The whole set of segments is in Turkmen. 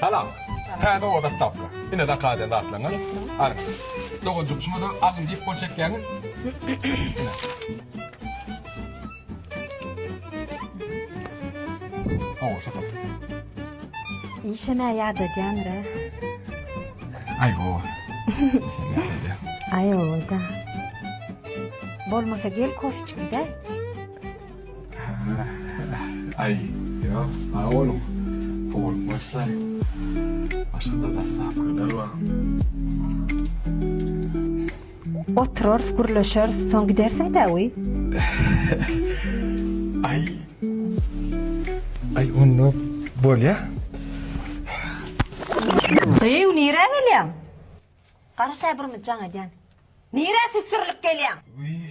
Salam. Täze oba dostawka. Ine zakaz eden zatlaryňyz. Alyň. Doganjyk şumada alyň diýip gol çekýäňiz. Hawa şo top. Işeme ýadadýanra. Aý ho. Işeme ýadadýan. Aý oda. Bolmasa gel kofe içip gidäý. Aý, ýok, sag boluň. Pul başlar. Başga-da daslapkyrlar bar. Oturarys, gürleşeris, soň gidersiň däwi? Aý. Aý, onda bolýa. Hyýw, nirä gelýäň? Garaşa birimiz jaň edýän. Nirä süsdürilip gelýäň? Wiý.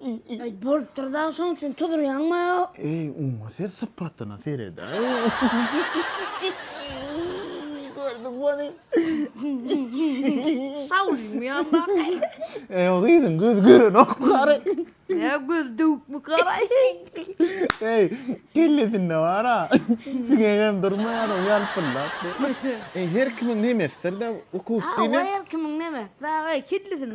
Eý, bolupdyr dagy, şonuň üçin tuzurýaňmy? Eý, oňa ser sypatyna sere-dä. Gördüňmi ony? Salymy ýa-da? Eý, o gyzyň gözi görenok gary. Ýa, gözi döwükmi gary? Eý, kellesinde bar-a. Siňegem durmaýar ol ýalpyldap. Eý, her kimiň nemesidir-dä ukusyny. Hawa, her kimiň nemesi-dä. Eý, kellesinde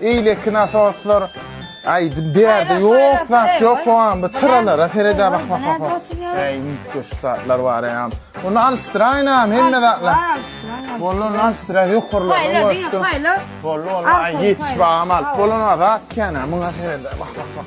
Eýleki nasoslar aýdym bärde ýok zat ýok hoam bu çyralara seredä bak bak bak bak äý mütdeş zatlar bar äm ony alşdyraýynam hemme zatlar boldy ony alşdyraý ýokarlaryny görşdüm boldy boldy aý ýetiş bagam alyp bolan zat kän äm muňa seredä bak bak bak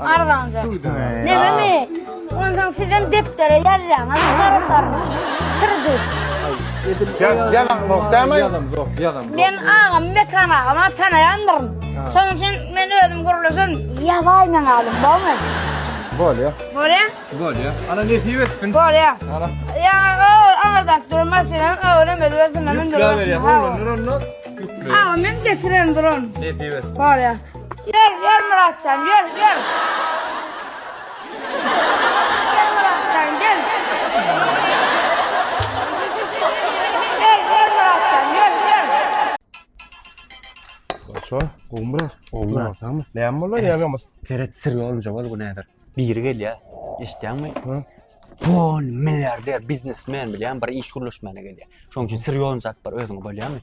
Arzanja. Nebemi? Onsoň sizem depdere ýazýaň, aňa garaşarys. Sürüjilik. Men agam Mekan agama tanaýandyryn. Şonuň üçin men özüm gürleşerin. Ýazaý meň adym, bolmaýmy? Bolýa. Bolýa? Bolýa. Ana nesip etsin. Bolýa. Ana. Ýa o aňyrdan duran maşynam öwrüm özübersin. Ýükläp berýär. Olar onda. Agam men geçirerin duran. Nesip etsin. Bolýa. Ýör, ýör Myratjan, ýör, ýör. Gel Myratjan, gel. Ýör, ýör Myratjan, ýör, ýör. Şo, gowmy? Gowmy? Tammy. Näme bolýar ýagamyz? Seret sir ýolunja bol bu näder. Biri gelýär. Eşitýäňmi? Hä? Bon milliarder biznesmen bilýän bir iş gürleşmäne gelýär. Şoň üçin sir ýolunja atyp bar özüňe bolýamy?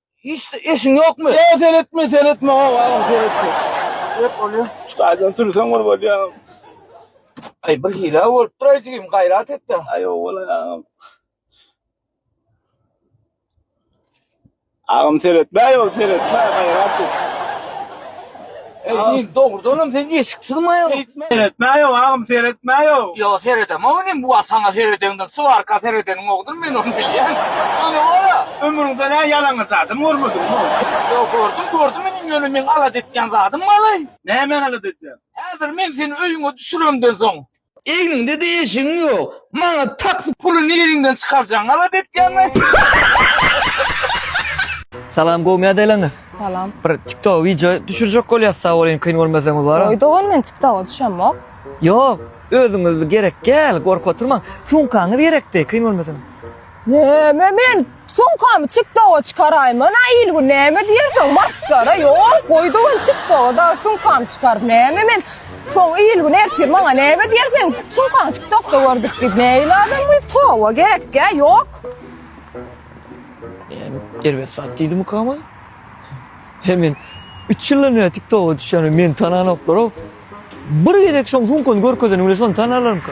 Hiç işin ýokmy? Ýa seretme, seretme, hok agam, seretme. Hep bolýa. Çykardan sürsen bir bolýa. Aý bir hile bolup dur jigim, gaýrat etde. Aý owal agam. Agam seretme, ýol seretme, gaýrat et. Eý, dogrudanam sen eşik sygmaýaňmy? Seretmäýog, agam, seretmäýog. Ýa, seredemok inim, bu wagt saňa seredeňden swarka seredeniňogdyr, men ony bilýän. Ony gora! Ömrüňden-ä ýalaňaç adam görmediňmi? Ýok, gördüm, gördüm inim, ýöne meň alada etýän zadym balaý. Nämäni alada etýäň? Häzir men seni öýüňe düşüremden soň, Egniňdede eşigiň ýok. Maňa taksi puly niriňden çykarjaň galat etýäňmi? Salam gowy mädeleňiz. Salam. Bir tiktoga wideo düşürjek bolýas sag bolyň kyn bolmasa mübarek. Goý dogan men tiktoga düşemok. Ýok özüňiz gerek gel gorkup oturmaň. Sumkaňyz gerekdi kyn bolmasa. Näme men sumkamy çykdaga çykaraýman a ilgün näme diýersiň masgara ýok goýdy ol çykdaga da sumkamy çykaryp näme men soň ilgün ertir maňa näme diýer seň sumkaň çykdakda gördük diýip nähili adam bu toba gerekkä ýok Erbet zat diýdi mukama. He men 3 ýyldan bäri TikToka düşýän meni tananoklar-ow. Bir gezek şoň sumkany görkezeniň bilen şony tanarlarmyka?